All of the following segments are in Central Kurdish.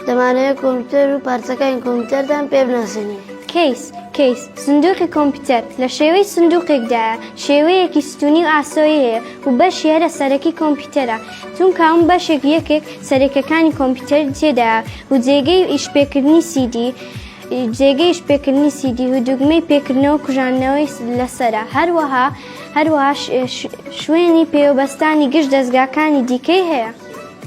دەمانەوێت کۆمپیوتەر و پارچەکانی کۆمپیوتەردان پێ بناسێنین کەیس کەیس سندوقی کۆمپیوتەر لە شێوەی سندوقێکدا شێوەیەکی ستونی و ئاسۆی هەیە و بەش هێرە سەرەکی کۆمپیوتەرە چونکە ئەم بەشێک یەکێک سەرەکەکانی کۆمپیوتەر تێدا و جێگەی ئیشپێکردنی سیدی جێگەی شپێکردنی سیدی و دوگمەی پێکردنەوە کوژاندنەوەی لەسرە هەروەها هەروەها شوێنی پێوەبەستانی گشت دەستگاکانی دیکەی هەیە.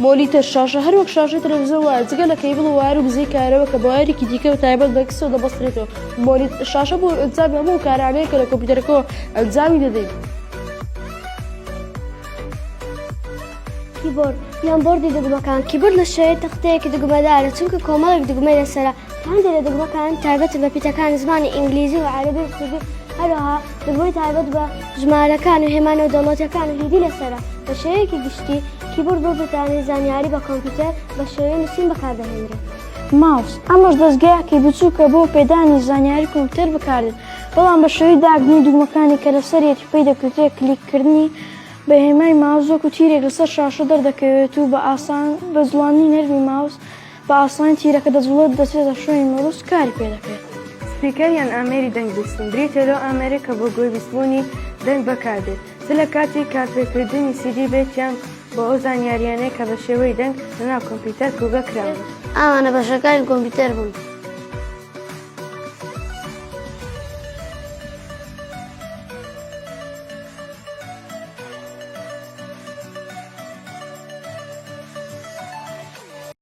مۆلیتەر شاشە هەروەک شاشە تەلەڤزیۆن وایە جگە لە کەیبڵ و وایەر و بزەی کارەوە کە بە وایەرێکی دیکە و تایبەت بە کسەوە دەبەسترێتەوە مۆلیتەر شاشە بۆ ئەنجامی هەموو ئەو کارانەیە کە لە کۆمپیوتەرەکەوە ئەنجامی دەدەین. کیبۆرد یان بۆردی دوگمەکان کیبۆرد لە شێوەی تەختەیەکی دوگمەدارە چونکە کۆمەڵێک دوگمەی لەسەرە هەندێک لە دەگمەکان تایبەتن بە پیتەکانی زمانی ئینگلیزی و عەرەبی و کوردی، هەروەها دەگمەی تایبەت بە ژمارەکان و هێما نێودەوڵەتییەکان و هیندی لەسەرە. بە شێوەیەکی گشتی، کیبۆرد بۆ گوتانی زانیاری بە کۆمپیوتەر بە شێوەی نووسین بەکاردەهێنرێت. ماوس، ئەمەش دەزگایەکی بچووکە بۆ پێدانی زانیاری کۆمپیوتەر بەکاردێت، بەڵام بە شێوەی داگرتنی دوگمەکانی کە لەسەریەتی پێی دەکوترێت کلیککردنی بە هێمای ماوس وەکو تیرێک لەسەر شاشە دەردەکەوێت و بە ئاسان بە جوڵاندنی نەرمی ماوس بە ئاسانی تیرەکە دەجوڵێت و دەچێتە شوێنی مەبەست و کاری پێ دەکرێت. سپیکەر یان ئامێری دەنگ بیستن بریتییە لەو ئامێرەی کە بۆ گوێ بیستبوونی دەنگ بەکار دێت، چ لە کاتی کارپێکردنی سیدی بێت یان بۆ ئەو زانیارییانەی کە بە شێوەی دەنگ لەناو کۆمپیوتەر کۆگە کراون. ئەمانە بەشەکانی کۆمپیوتەر بوون.